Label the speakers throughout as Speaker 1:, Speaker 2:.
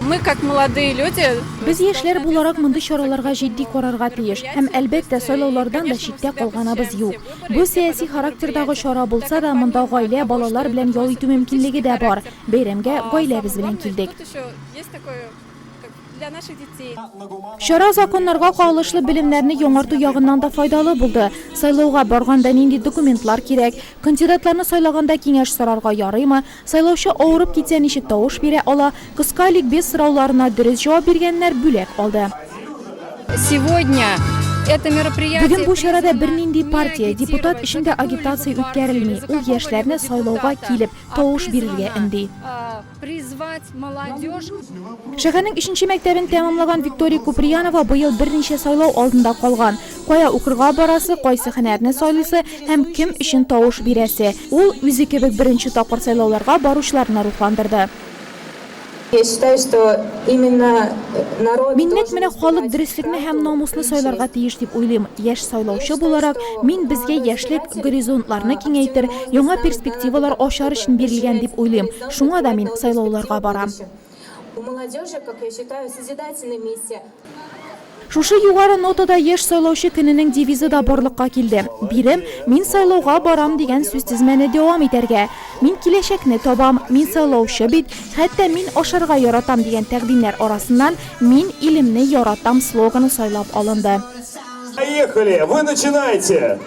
Speaker 1: Мы, как молодые люди. Без яшьләр
Speaker 2: буларак мондый чараларга җитди карарга тиеш. Һәм, әлбәттә, сайлаулардан да читтә калганабыз юк. Бу сәяси характердагы чара булса да, монда гаилә, балалар белән ял итү мөмкинлеге дә бар. Бәйрәмгә гаиләбез белән килдек.
Speaker 1: Чара
Speaker 2: законнарга кагылышлы белемнәрне яңарту ягыннан да файдалы булды. Сайлауга барганда нинди документлар кирәк, кандидатларны сайлаганда киңәш сорарга ярыймы, Сайлаучы авырып китсә ничек тавыш бирә ала? Кыска ликбез сорауларына дөрес җавап биргәннәр бүләк алды.
Speaker 1: Сегодня это мероприятие Бүген бу чарада бернинди
Speaker 2: партия, депутат эчендә агитация үткәрелми, ул яшьләрне сайлауга килеп, тавыш бирергә өнди. призвать
Speaker 1: молодежь Шәһәрнең
Speaker 2: өченче мәктәбен тәмамлаган Виктория Куприянова быел берничә сайлау алдында калган. Кая укырга барасы, кайсы һөнәрне сайлыйсы һәм кем өчен тавыш бирәсе, ул үзе кебек беренче тапкыр сайлауларга баручыларны рухландырды.
Speaker 3: Мин нәкъ менә халык
Speaker 2: дөреслекне һәм намусны сайларга тиеш дип уйлыйм. Яшь сайлаучы буларак, мин безгә яшьлек горизонтларны киңәйтер, яңа перспективалар ачар өчен бирелгән дип уйлыйм. Шуңа да мин сайлауларга барам. У
Speaker 3: молодежи, как я считаю, созидательная миссия. Шушы
Speaker 2: югары нотада Яшь сайлаучы көненең девизы да барлыкка килде. Бирем, Мин сайлауга барам дигән сүзтезмәне дәвам итәргә, Мин киләчәкне табам, Мин сайлаучы бит, Хәтта мин ашарга яратам дигән тәкъдимнәр арасыннан Мин илемне яратам слоганы сайлап алынды. Поехали!
Speaker 4: Вы начинайте!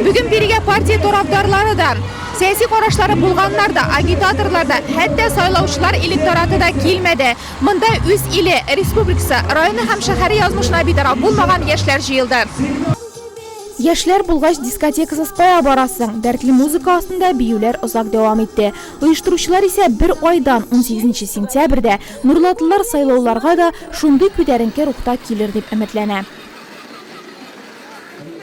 Speaker 2: Бүген бирегә партия тарафдарлары да, сәяси карашлары булганнар да, агитаторлар да, хәтта сайлаучылар электораты да килмәде. Монда үз иле, республикасы, районы һәм шәһәре язмышына битараф булмаган яшьләр җыелды. Яшьләр булгач, дискотекасыз кая барасың? Дәртле музыка астында биюләр озак дәвам итте. Оештыручылар исә бер айдан, 18 нче сентябрьдә, Нурлатлылар сайлауларга да шундый күтәренке рухта килер дип өметләнә.